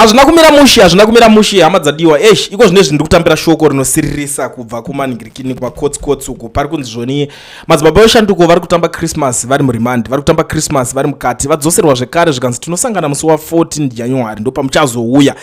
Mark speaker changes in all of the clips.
Speaker 1: Hazvina kumira mushe, hazvina kumira mushe hama dzadiwa. Eish, iko zvine zvinhu ndikutambira shoko rinosiririsa kubva kumaningirikini kumakotsi kotsi uko. Pari kunzi zvoni madzibaba veshanduko vari kutamba Christmas vari muremand, vari kutamba Christmas vari mukati, vadzoserwa zvekare zvikanzi tinosangana musi wa 14 January ndopamuchazouya.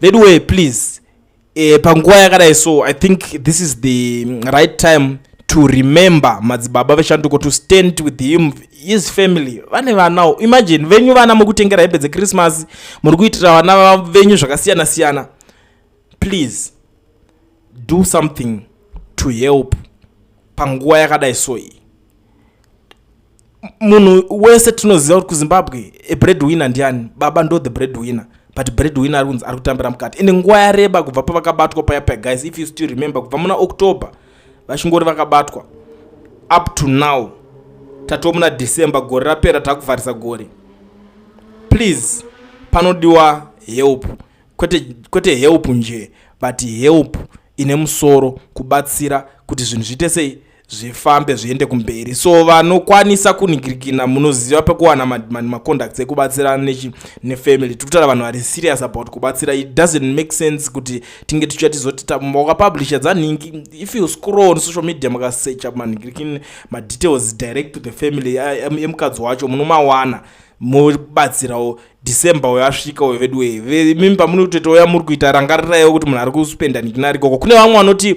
Speaker 1: Veduwe please e, panguva yakadai so i think this is the right time to remember madzibaba veshanduko to stand with him his family vane vanawo imagine venyu vana mukutengera hembe dzechristmas muri kuitira vana venyu zvakasiyana siyana please do something to help panguva yakadai so iyi munhu wese tinoziva kuti kuzimbabwe a bread winner ndiani baba ndo the bread winner but bread winner ari kunzi ari kutambira mukati ende nguva yareba kubva pavakabatwa paya paya guys if you still remember kubva muna october vachingori vakabatwa up to now tatova muna december gore rapera takuvharisa gore please panodiwa help kwete, kwete help nje but help ine musoro kubatsira kuti zvinhu zviite sei zvifambe zviende kumberi so vanokwanisa kunigirikina munoziva pekuwana macontacts ekubatsirana nefamily tiri kutaura vanhu vari serious about kubatsira it doesn't make sense kuti tinge tichiya tizoti wakapublisha dzanhingi if you scroll on social media makasecha manigirikini madetails direct to the family emukadzi wacho munomawana mobatsirawo december uyo asvika uyo vedu wee mimi pamunototoya muri kuita rangariraiwo kuti munhu ari kuspenda nikinarikoko kune vamwe vanoti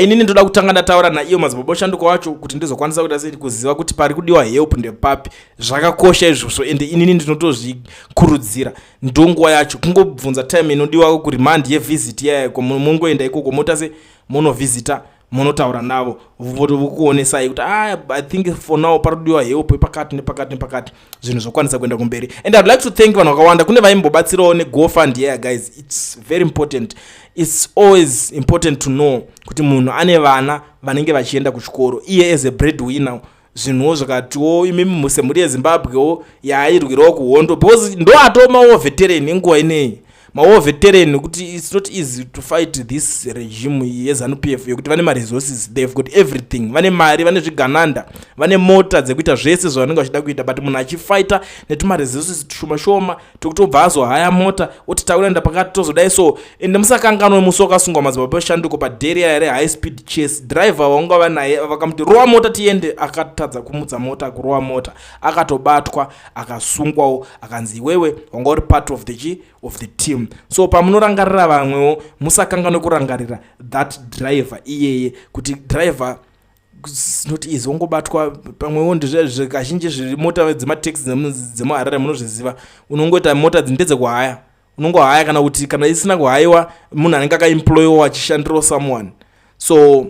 Speaker 1: inini ndoda kutanga ndataura naiyo madzibaba oshanduka wacho kuti ndizokwanisa kuita sei kuziva kuti pari kudiwa help ndepapi zvakakosha izvozvo ende inini ndinotozvikurudzira ndonguva yacho kungobvunza time inodiwako kurimandi yevisit yayako mungoenda ikoko mota se munovhizita munotaura navo vokuonesai kuti ah, i think for now parikudiwa help pakati nepakati nepakati zvinhu zvokwanisa kuenda kumberi and iwould like to thank vanhu vakawanda kune vaimbobatsirawo negofund yeah guys its very important its always important to know kuti munhu ane vana vanenge vachienda kuchikoro iye as a bread winner zvinhuwo zvakatiwo imimi semhuri yezimbabwewo yaairwirawo kuhondo because ndoatomawo veteran inguva ineyi mawar veteran kuti its not easy to fight this regime yezanup f yekuti vane maresources theyve got everything vane mari vane zvigananda vane mota dzekuita zvese zvavanenge vachida kuita but munhu achifighta netumaresources tushoma shoma tokuti obva azohaya mota oti takuenda pakati tozodai so ende musakanganwe musi wakasungwa madzibaba eshanduko paderiya rehigh speed chase driver vaunga vanaye vakamuti rowa mota tiende akatadza kumutsa mota kurowa mota akatobatwa akasungwawo akanzi iwewe wanga uri part of the chi of the team so pamunorangarira vamwewo musakanganwe kurangarira that driver iyeye kuti driver not easy wongobatwa pamwewo ndizvekazhinji zviri mota dzemataxi dzemuharare munozviziva unongoita mota dzindedzekuhaya unongohaya kana kuti kana isina kuhayiwa munhu anenge akaemployiwa achishandirawo someone so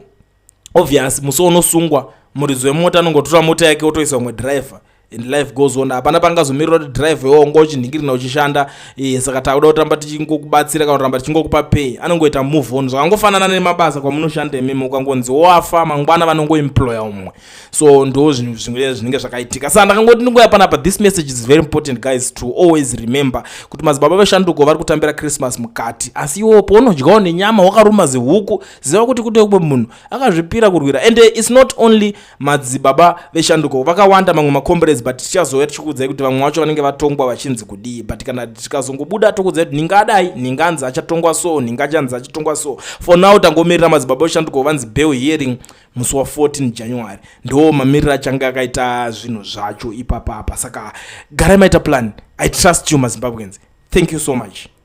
Speaker 1: obvious musi unosungwa muridzi wemota anongotora mota yake otoisa umwe driver and life goes on hapana pangazomirira kuti drive iwo unga uchinhingirina uchishanda eh, saka takuda kutamba tichingokubatsira kana kuramba tichingokupa pay anongoita move on zvakangofanana nemabasa kwamunoshanda imimi ukangonzi wafa mangwana vanongoemploya umwe so ndo zvinhu zvimwe zvinenge zvakaitika sa ndakangoti ndingoya panapa this message is very important guys to always remember kuti madzibaba veshanduko vari kutambira christmas mukati asi iwo pounodyawo nenyama wakaruma zihuku ziva kuti kute kumwe munhu akazvipira kurwira and its not only madzibaba veshanduko vakawanda mamwe macombrades but tichazouya tichikuudzai kuti vamwe vacho vanenge vatongwa vachinzi kudii but kana tikazongobuda tokuudzai kuti ninga adai ninga anzi achatongwa so ninga achanzi achatongwa so for now tangomirira madzibaba veshanduko vanzi bell hearing musi wa 14 january ndo mamiriro achange akaita zvinhu zvacho ipapapa saka garai maita plan i trust you mazimbabweans thank you so much